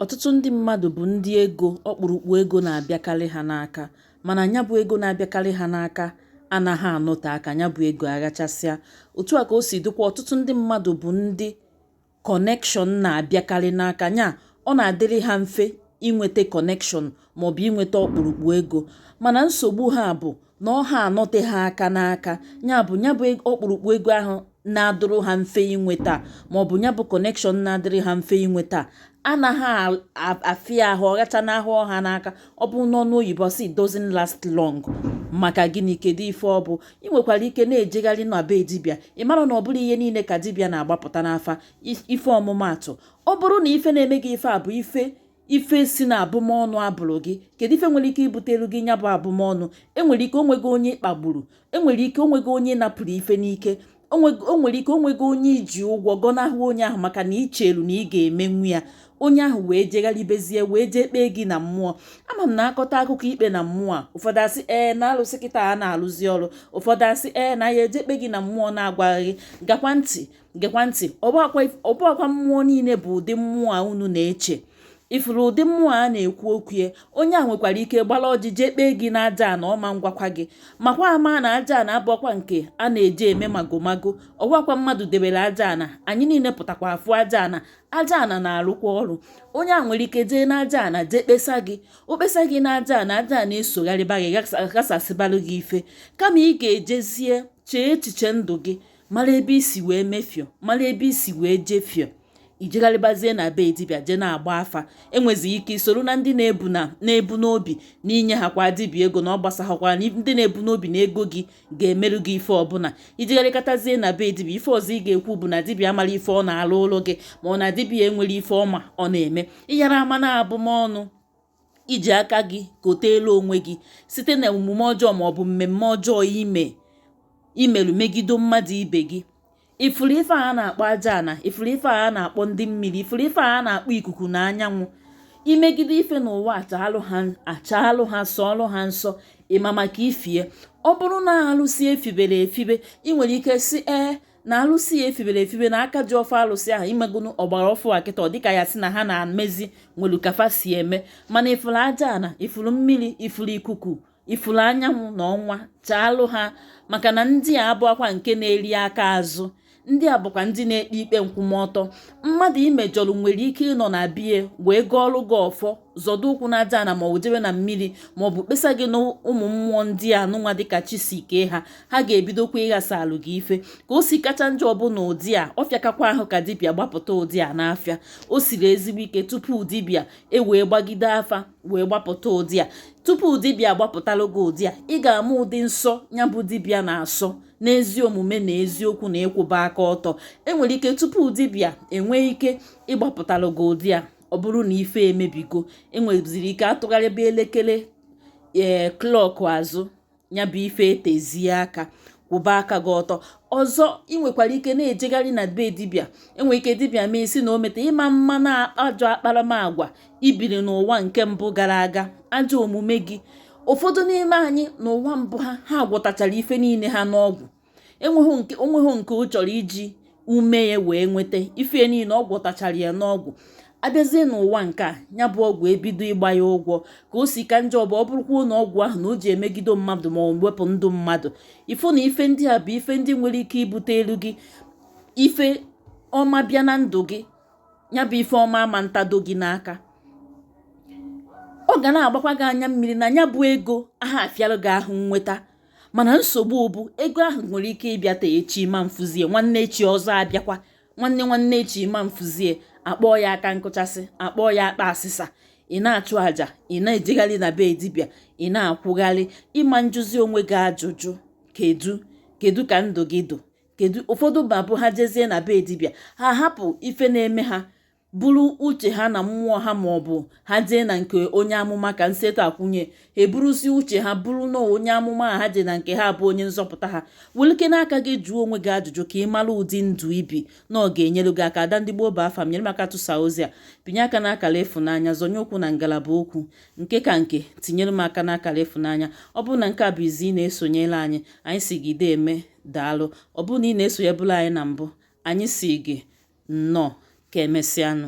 Ọtụtụ ndị mmadụ bụ ndị ego ọkpụrụkpụ ego na-abịakarị ha n'aka mana nya bụ ego na-abịakarị ha n'aka anaghị anọte aka nya bụ ego aghachasịa. Otu a ka o si dịkwa ọtụtụ ndị mmadụ bụ ndị kọnekshọn na-abịakarị n'aka nya ọ na-adịrị ha mfe inweta kọnekshọn maọbụ inweta ọkpụrụkpụ ego mana nsogbu ha bụ na ọ ha anọte ha aka n'aka ya bụ ya bụ ọkpụrụkpụ ego ahụ na-adịrị ha mfe inweta maọbụ ya bụ kọnekshọn na-adịrị ha mfe inweta anaghị afịa ahụ ọ ghachanahụ ha n'aka ọ bụ n'ọnụ oyibo sị doesn't last long maka gịnị kedu ife ọ bụ ị nwekwara ike na-ejegharị na be dibịa ị mara na ọ bụrọ ihe niile ka dibịa na-agbapụta n'afa ife ọmụmaatụ ọ bụrụ na ife na-eme gị ife a bụ ife ife si na abụmọnụ a bụrụ gị kedu ife nwere ike ibutelu gị nya bụ abụmọnụ e nwere ike o nwego onye ị kpagburu e nwere ike o nwego onye napụrụ ife n'ike o nwere ike o nwego onye i ji ụgwọ gọnahụ onye ahụ maka na i chelu na ị ga-emenwu ya onye ahụ wee jegharịbezie wee jee kpee gị na mmụọ ama m na a kọta akụkọ ikpe na mmụọ a ụfọdụ asị ee na alụsị kịta a na-alụzi ọrụ ụfọdụ asị ee na ya eje kpe gị na mmụọ na-agwa gị gekwa ntị gekwa ntị ọ bụakwa mmụọ niile bụ ụdị mmụọ a unu na-eche ị fụrụ ụdị mmụọ a na-ekwu okwu ya onye a nwekwara ike gbara ọjị jee kpee gị na aja ana ọma ngwakwa gị makwa ama na aja ana abụakwa nke a na-eji eme magomago ọ bụakwa mmadụ debere aja ana anyị niile pụtakwa afụ aja ana aja ana na-arụkwa ọrụ onye a nwere ike jee na aja ana jee kpesa gị o kpesa gị na aja ana aja ana esogharịba gị ghasasịbalụ gị ife kama ị ga-ejezie chee echiche ndụ gị mara ebe i si wee mefio mara ebe i si wee jefio i jegharịbazie na be dibịa jee na-agba afa e nwezi ike i soro na ndị na-ebu na na-ebu n'obi na i nyehakwa dibịa ego na ọ gbasahakwa na ndị na-ebu n'obi na ego gị ga-emerụ gị ife ọbụla i jegharịkatazie na be dibịa ife ọzọ ị ga-ekwu bụ na dibịa amara ife ọ na-alụ ụlọ gị ma ọ na dibịa enwere ife ọma ọ na-eme ị yara ama na abụmọnụ i ji aka gị koteelu onwe gị site na omume ọjọọ ma ọ bụ mmemme ọjọọ ime i melu megido mmadụ ibe gị ị fụrụ ife a na-akpọ aja ana ị fụrụ ife a na-akpọ ndị mmiri ị fụrụ ife a na-akpọ ikuku na anyanwụ i megide ife n'ụwa a chaalụ ha chaalụ ha sọọlụ ha nsọ ị ma maka ifie ọ bụrụ na alụsị e fibere efibe ị nwere ike sị ee na alụsị ya e fibere efibe na aka ji ọfọ alụsị ahụ emegonu ọgbara ọfụụ a kịta ọ dịka ya sị na ha na-emezi nwelu ka fa si eme mana ị fụrụ aja ana ị fụrụ mmiri ị fụrụ ikuku ị fụrụ anyanwụ na ọnwa chaalụ ha maka na ndị a abụakwa nke na-eri aka azụ ndị a bụkwa ndị na-ekpe ikpe nkwụmọtọ mmadụ i mejọrọ nwere ike ịnọ na be ya wee gọọrọ gị ọfọ zọdo ụkwụ na aja ana ma ọ bụ jebe na mmiri ma ọ bụ kpesa gị na ụmụ mmụọ ndị a nụnwa dịka chi si kee ha ha ga-ebidokwa ịghasalụ gị ife ka o si kacha njọ bụ na ụdị a ọ fịakakwa ahụ ka dibịa gbapụta ụdị a n'afa o siri ezigbo ike tupu dibịa ewee gbagide afa wee gbapụta ụdị a tupu dibịa gbapụtalụ gị ụdị a ị ga-ama ụdị nsọ ya bụ dibịa na-asọ n'ezi omume na eziokwu na ịkwụba aka ọtọ enwere ike tupu dibịa enwee ike ịgbapụtalụ gị ụdị a ọ bụrụ na ife emebigo enweziri ike atụgharịba elekere ee eh, clock azụ ya bụ ife etezie aka kwụba aka gị ọtọ ọzọ ị nwekwara ike na-ejegharị na be dibịa enwere ike dibịa mee ị sị na o meta ị ma mma na ajọ akparamagwa i biri n'ụwa nke mbụ gara aga ajọ omume gị ụfọdụ n'ime anyị n'ụwa mbụ ha ha gwọtachara ife niile ha n'ọgwụ onweghị nke ọ chọrọ iji ume ya wee nweta ife niile ọ gwọtachara ya n'ọgwụ abịazie n'ụwa nke a ya bụ ọgwụ ebido ịgba ya ụgwọ ka o si ka njọ bụ ọ bụrụkwa na ọgwụ ahụ na o ji emegido mmadụ ma ọ wepụ ndụ mmadụ ị fụ na ife ndị a bụ ife ndị nwere ike ibutelu gị ife ọma bịa na ndụ gị ya bụ ife ọma ama ntado gị n'aka ọ ga na-agbakwa gị anya mmiri na ya bụ ego aha afịalụ gị ahụ nnweta mana nsogbu bụ ego ahụ nwere ike ịbịata echi ma mfụzie nwanne echi ọzọ abịakwa nwanne nwanne echi ma mfụzie akpọọ ya aka nkụchasị akpọọ ya akpa asịsa ị na-achụ àjà ị na-ejegharị na be dibịa ị na-akwụgharị ị ma njụzi onwe gị ajụjụ kedu kedu ka ndụ gị dụ kedu ụfọdụ ma ọ bụ ha jezie na be dibịa ha hapụ ife na-eme ha buru uche ha na mmụọ ha ma ọ bụ ha jee na nke onye amụma ka nseto akwụnye ha eburuzi uche ha buru na onye amụma ha jee na nke ha bụ onye nzọpụta ha welụkene aka gị jụọ onwe gị ajụjụ ka ị mara ụdị ndụ i bi na ọ ga-enyere gị aka ada ndị gboo bụ afa m nyere m aka tụsa ozi a pịnye aka n'akara ịfụnanya zọnye ụkwụ na ngalaba okwu nke ka nke tinyere m aka n'akara ịfụnanya ọ bụrụ na nke a bụ izizi ị na-esonyere anyị anyị sị gị deeme daalụ ọ bụrụ na ị na-esonyebụla anyị na mbụ anyị sị gị Nnọọ, ka emesịanụ.